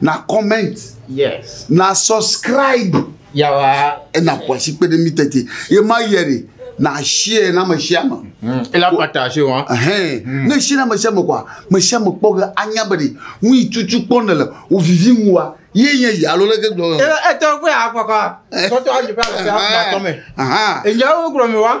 na comment yes na subscribe yawa ena kwasi kpe ɖe mi tete ye ma yɛ de na share na me share me hmm. ela partage wa hein hmm. ne share na me share me kwa me share me kpɔ ge anya be de nu yi tutu kpɔ ne le o vivi ŋu wa ye nye ya lo leke gblɔ e e tɔ kpe akpakɔ tɔtɔ ayi pa le se ha tɔ me eyawo gblɔ mi wa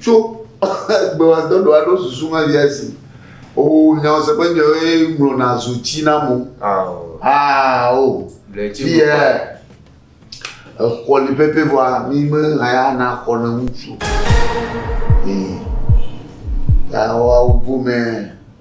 Tso gbewatɔɖo aɖo susu ma via si o nyawo se ƒe nyɔe ŋlɔna zu tsi na mo. Aa o. Fiyɛ exɔ li pɛpɛ vɔa mi me haya na xɔ ne ŋutsu. Ee. Yawo awo gomɛ.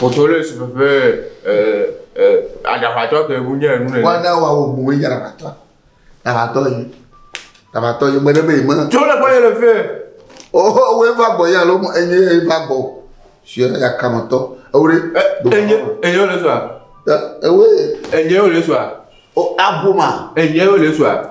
Potoles ƒe ƒe aɖaʋatɔ ke ŋu nye enu nene. Wana wa wo boe ya aɖaʋatɔ. Aɖaʋatɔ yi. Aɖaʋatɔ yi mene be yi me. Tso le kɔye le fe. Oho wo va gbɔ ya lo enye ye va gbɔ. Sia ya kamatɔ. Ewure. Enye enye le soa. Ewe. Enye le soa. O abu ma. Enye le soa.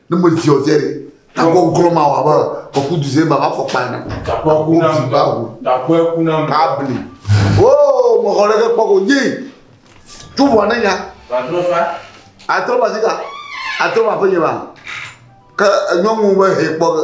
Ne me zi ɔzɛ ɖe. Takɔ gɔlɔ ma wà bɛ kɔku du zé baba fɔ kpa na. Takɔ ku na mi ba wu. Takɔ ku na mi. Kabli. Oo mɔ kɔ ɖeke kpɔ ko nyi. Tu vɔ ne nya. Atrɔ fa. Atrɔ ba zika. Atrɔ ba fɔ nyi ba. Ke enyɔ ŋu be he kpɔ ke.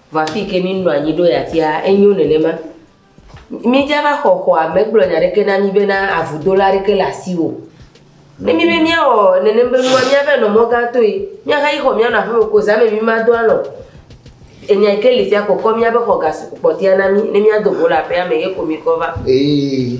Vɔ afi ke mi nɔ anyi ɖo ya tia enyo nenema. Mi dza va xɔ xɔa me gblɔ nya ɖeke na mi be na avu do la ɖeke le asi wo. Ne mi be mia wɔ nenem be nua mia va nɔ mɔ gã toe. Mia ha yi xɔ mia nɔ aƒe me ko za me mi ma do alɔ. Enya ke li fia kɔkɔ mia be xɔ ga kpɔtia na mi ne mia do go le aƒea me ye ko mi kɔ va. Ee.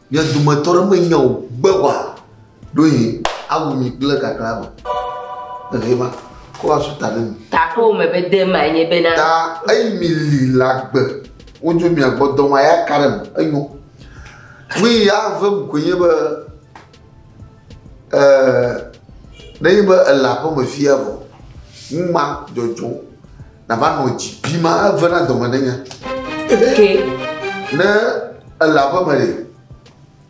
Mia dometɔ aɖe menya o gbe wa ɖo yi awu mi kple kakla me. Ele ma ko asu ta ne mi. Ta ko me be de ma nye be na. Ta eyi mi li la gbe. Wo jo mi agbo do ma ya karem enyo. Mi ya ve mu ko nye be Ɛɛ, nenye be èle aƒemefia vɔ, nu ma dzɔdzɔm, nàva nɔ dzi bim ave na dɔme nenye. Ke. Ne èle aƒeme ɖe,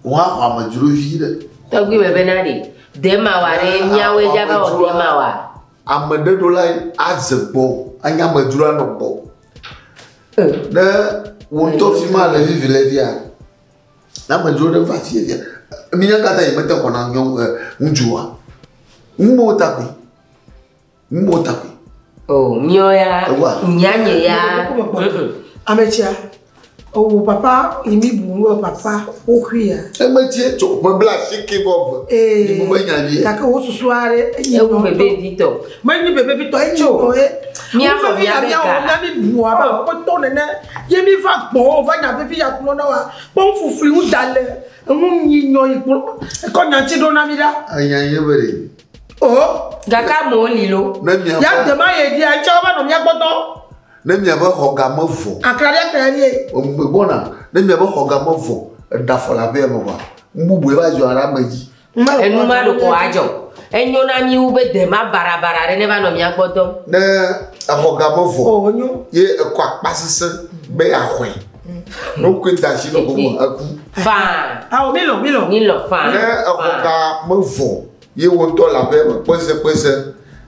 wò hã xɔ amedzro vi ɖe. Tɔgbi me bena ɖe, de mawa ɖe miawoe dza va wɔ de mawa. Ame ɖe ɖo lae aze gbɔ, anye amedzro anɔ gbɔ. Ne wò ŋutɔ fi ma le vivi le via. Ne amedzro ɖe va afi ya, minya ka ta yemete xɔ na nyɔnu ɛ ŋutsua? Numawo ta koe. Numawo ta koe. O, nyɔ ya, Ewa. nyanye ya. Ametsia, owó papa imi bùnú ẹ papa wóxui ya. Emetsie tsɔ ƒe bla asike vɔ ve. Ee, Nyi bubɛ nya vie. gake wó susua ɖe enyi Ewu nɔtɔ. bebe vitɔ. Menyi be vevitɔ enyi o ye. Mia fɔ mia be ga. Mia mi bua ba o pe tɔ nene. Ye mi va gbɔ o va nya vevi ya kplɔ na wa. Pe un fufui un da le. Un yi nyɔ yi kplɔ. Ekɔ nya ti do na mi da. Anya ye be de. O. Gaka mo li lo. Ne mia. Ya de ma ye dia cha va no mia gbɔ tɔ. Ne mia be xɔ ga me vɔ. Akra dia kra ye. O me gbɔ na. Ne mia be xɔ ga me vɔ. Eda fɔ la be no va. Mbu bu e va zɔ ara me ji. Enu ma ɖo kɔ adzɔ. Enyo na mí wu be de ma barabara ɖe neva nɔ mía gbɔ dɔm. Ne exɔ ga me vɔ ye ekɔ akpa sese be yeaxɔe. Ne wokɔe da asi nɔ gome eku. Faa. Ao milɔ milɔ. Milɔ faa. Ne exɔ ga me vɔ ye wo ŋutɔ le aƒea me kpese kpese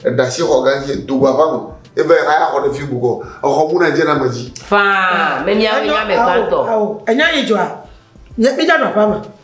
eɖe asi xɔ ga dzi do go aƒea me eva yi haya xɔ ɖe fi bubu kɔ exɔ muna dze na ame dzi. Faa. Mɛ miawo nye ame gbãtɔ. Ao enya yi dzɔa. Mídza nɔ aƒea me.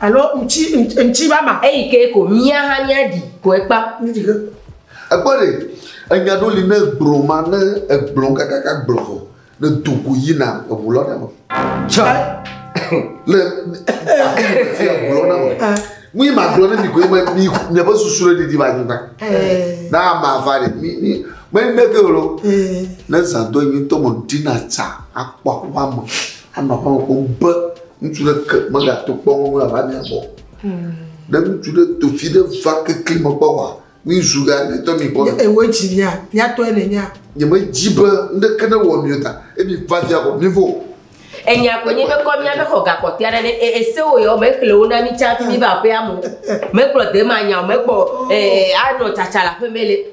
Alo ŋtsi ŋtsi ba ma. Eyi ke ko mía hã mía ɖi ko ekpa. Ekpɔ ɖe enya ɖo li ne gblɔ ma ne egblɔ kakaka gblɔ ko ne do ko yi na eŋu lɔ ɖe me. Tsɔ le ti eŋu lɔ ɖe me. Mi ma gblɔ ne mi ko eme mi ne be susu ɖe didi ba nyi ba. Na ma va ɖe mi mi me ne ke lo. Ne zan do nyi to mo dina tsa akpɔ akpɔ mo. Anɔ aƒe me kpɔm be ŋutsu ɖeke megato kpɔ wo ŋu ava mia gbɔ. Hmm. Ne ŋutsu ɖe do fi ɖe va kekli me kpɔ wa, mi zu ga ne tɔ mi kpɔ. Ewo dzi nya, nya tɔ ele nya. Nye me dzi be ŋɖeke ne wɔ mi ta, ebi va via kɔ mi vo. Enya ko nye be kɔ mia be xɔ gakɔte aɖe ne e, ese wo yɔ me xle wo na mi tsa fi mi va aƒea mo. Me kplɔ de ma nya o, me kpɔ eh anɔ tsatsa la ƒe me le.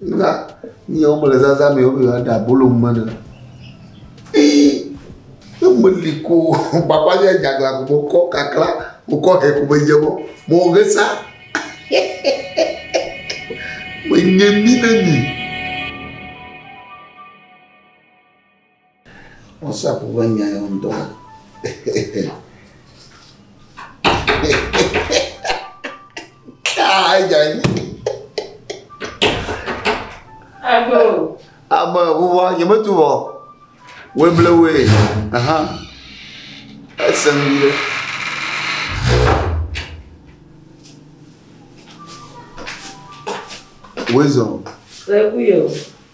Na mía wɔme le zazã me be yewoaɖe abolo nu me ne. Ee, ne meli ko papa nye dzaglã ko mekɔ kakla, mekɔ hɛ ko medze mɔ, mɔ ge sa. Menye mi ne mi. WhatsApp ƒe nya ya ŋdɔ. Ado. Ame wua nyemetu wɔ. Weble we. Aha. Ese nu ɖe. Wezɔ. Lẹ́kùn yìí o.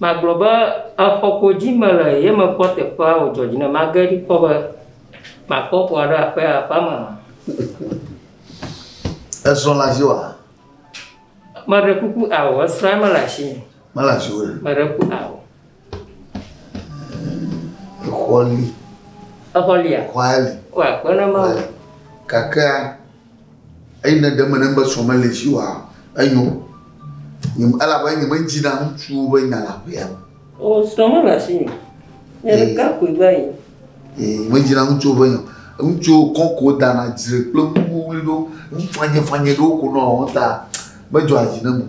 Magblɔ be exɔ ko dzi mele ye mekpɔ teƒea wòdzɔ dzi nam. Mage ɖi kpɔ be makpɔ xɔa ɖe aƒea, aƒea me hã. Esrɔ̃ le asiwò hã? Meɖe kuku ao, esrɔ̃a mele asinye. Mele asiwò o. Meɖe kuku ao. Exɔ li. Exɔ lia? Exɔa li. Woa, kpe ɖe Mawu ŋu. Gakea? Eyi ne ɖe mene be srɔ̃ meli si oa, enyo, elabe nyemedzina ŋutsuwo ƒe nya le aƒea me. O, srɔ̃ mele asinye o. Nye ɖeka koe va yi. Ee, medzina ŋutsuwo ƒe nya. Ŋutsuwo kɔ ko dana dzre kple ŋuwuwli ɖo, ŋufanyefanye ɖewo ko nɔa wɔm ta medzɔa dzi nam o.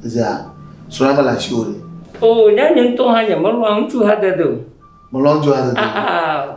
Ezea, srɔ̃ la mele asiwò ɖe. O, ɖe nye ŋutɔ hã nyemelɔ̃a ŋutsuhadede o. Mèlɔ̃a ŋutsuhadede o? Aa.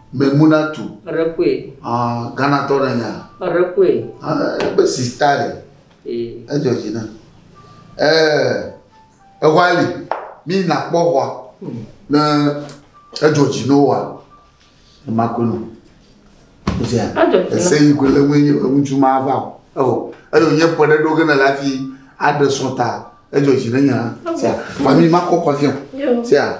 Memunatu. Eɖe kue. Ah, Ghana tɔ ne nya. Eɖe kue. Ah, ebe si style. Ee. Edzɔ dzi na. Eh, ehwa li. Mi na kpɔ hwa. Hmm. Ne edzɔ dzi no wa. Ema kwe no. Edzɔ dzi na. Ese yi kwe le ŋue nye ŋutsu ma va o. Eho. Eyo nye pɔ ɖe ɖo gena la fi aɖe sɔta. Edzɔ dzi ne nya. Sia. Fami ma kɔ kɔ fiɔ. Sia.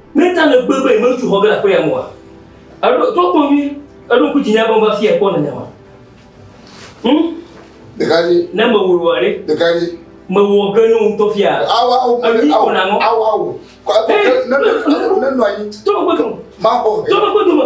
Ne ta nègbe be yemetu xɔ ge le aƒea me oa, èɖo to kpɔ nyuie, èɖo ŋku dzinye be meva afiae kpɔ nènya ma. Hm? Ɖekadzi. Ne mewɔe oa ɖe? Ɖekadzi. Mewɔ ge nɔ ŋutɔ fia. Awa awo. Enyi ko naŋɔ. Awa awo. Kɔ eƒe. Nenɔ anyi. Tɔ megbe dome. Mabɔ. Tɔ megbe dome.